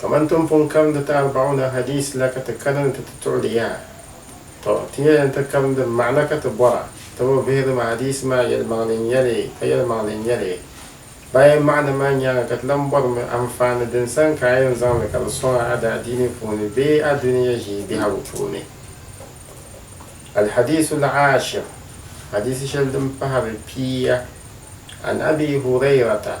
Kaman ti ni pun karindi ti Arba'una Hadiis la ka ti kana ni ti ti tuɣili yaha, tɔ! Ti nyɛla ni ti karindi maana ka ti bɔra, ti bi vihiri ma hadiisi maa yɛlimaŋli n-nyɛ li ka yɛlimaŋli n-nyɛ li. Bayan maana maa nyaaŋa ka ti lan bɔrimi anfaani din sani ka a yɛn zaŋ li ka di sɔŋ a a daadiini puuni bee a dunia ʒii biɛhigu puuni. Al-Hadiisu Al-Aashir, Hadiisi shɛli din pahiri pia, An Abii Hurayrata,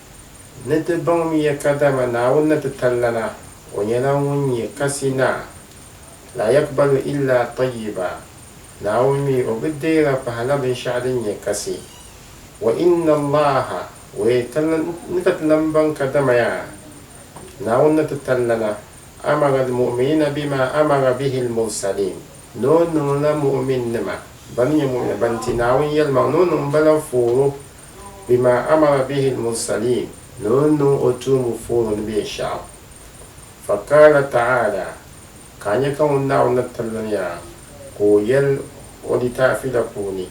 Ni ti baŋmiya kadama Naawuni ni ti tali lana, O nyɛla Ŋun nyɛ Kasi Naa, La yakbalu illa tayyiba, Naawuni mi O bi deera pahi la binshɛɣu din nyɛ kasi. Wa inna Allaha, wee ti ni ka ti lan baŋ kadama ya Naawuni ni ti tali lana, amara al-mu'minina bima amara bihi al-mursaliin, ni O niŋla mu'minnima bani nyɛ mu'mina bani ti Naawuni yɛlimaŋ ni o niŋ ba la fooro. bima amara bihi al-mursaliin, ni o ni niŋ o tuumbu fooni ni binshɛɣu. Fa qaala ta'aala, ka a nya ka ŋun Naawuni ni pilimiya ka o yɛl o litaafi la puuni,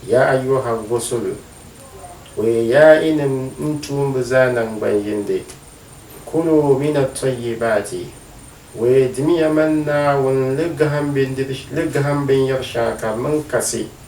Yaa ayyuha rusulu, O yi yaa yinim n tuumbi zaa naŋgban yindi, kuluu min at-tayyibaati, O yi dimiya man Naawuni li gahim binyɛr shɛŋa ka di niŋ kasi,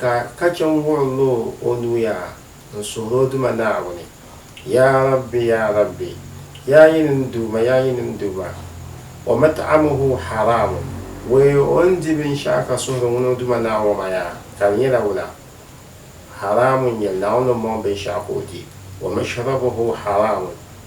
Ka ka chɛ n-wuɣi lo o nuya n-suhir o Duuma Naawuni, Yaa Rabbi, Yaa Rabbi, Yaa yi ni n Duuma, Yaa yi ni n Duuma, wa mat'amuhu haraamun, wee o ni di binshɛɣu ka suhiri ŋun o Duuma Naa ŋɔ maa yaa, ka di nyɛla wula? Haraamun n-nyɛ Naawuni ni mɔŋ binshɛɣu ka o di, wa mashrabuhu haraamun,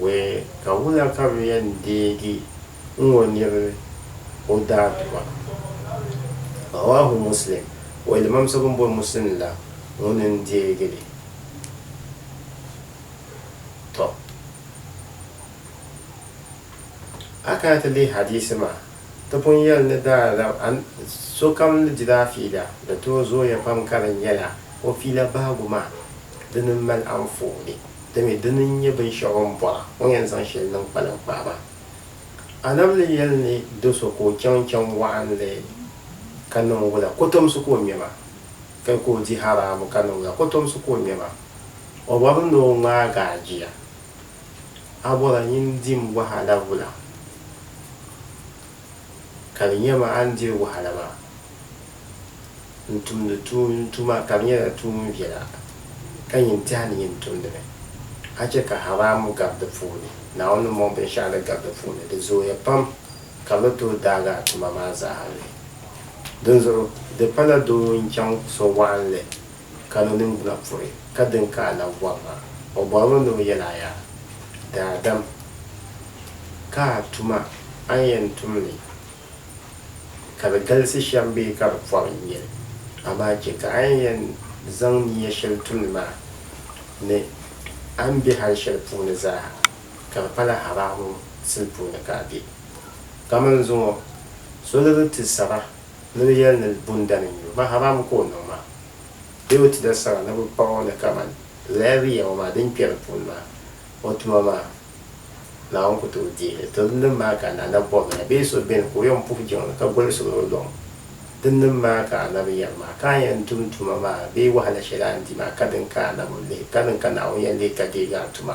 Wɛ ka wula ka bɛ yɛn deegi n ŋɔ niri o daaduma? Rawaahu Muslim, Wɛ limaamsi bɛn boli Muslim la ŋuni n-deegi li. Tɔ! A kana ti lihi hadiisi maa. Ti pun yɛli ni daa lab a ni sokam ni dila a fiila, di tooi zooya pam ka di nyɛla o fiila bahigu maa dini m-mali anfooni. Dimi, dini n-nyɛ binshɛɣu o ni bɔra, o ni yɛn zaŋ shɛli niŋ kpaliŋkpaa maa. A nam ni yɛli ni do so ka o chaŋ chaŋ waɣinli ka niŋ wula, kotomsi ka o ŋme maa, ka ka o di haraamu ka niŋ wula, kotomsi ka o ŋme maa. O bɔri ni o ŋmaag a jia. A bɔra nyin n-di m wahala wula? Ka di nya ma a ni diri wahala maa, n-tumdi tuum n tuma ka di nyɛla tuum viɛla, ka nyin tɛha ni nyin tumdi mi. A chɛ ka haraam gari di puuni, Naawuni ni mɔŋ binshɛɣu ni gari di puuni di zooya pam, ka bɛ ni tooi daagi a tuma maa zaa n-lihi. Dinzuɣu di pala doo ŋun chaŋ so waɣinli. ka ni niŋgbuna puhi ka din ka a labi bɔri ma. O bɔrimi ni o yɛl a yaa, Daadam, ka a tuma a ni yɛn tum li, ka di galisi shɛm bee ka di pɔbi n-nyɛ li, amaa chɛ ka a ni yɛn zaŋ nia shɛli tum li maa ni a ni be hal shɛli puuni zaaha, ka di pala haraamum sili puuni ka a be. Kaman zuŋɔ so ni di ti saba. Ni bɛ yɛli ni bundana n-nyɛ o, maharaam ka o niŋ maa bee o ti da sara ni bɛ paɣ o ni kaman laabi yɛm o maa din kpɛri puuni maa, o tuma maa Naawuni ku tooi deei li. Tɔ! Dinnim maa ka Naana bɔbila la bee so beni ka o yɛn puhi jiŋli ka gɔlisiri o luŋ? Dinnim maa ka Annabi yɛli maa, Ka a yɛn tum tuma maa bee wahala shɛli a ni di maa, kadin ka Annabi lihi, kadin ka Naawuni yɛn lihi ka deegi a tuma.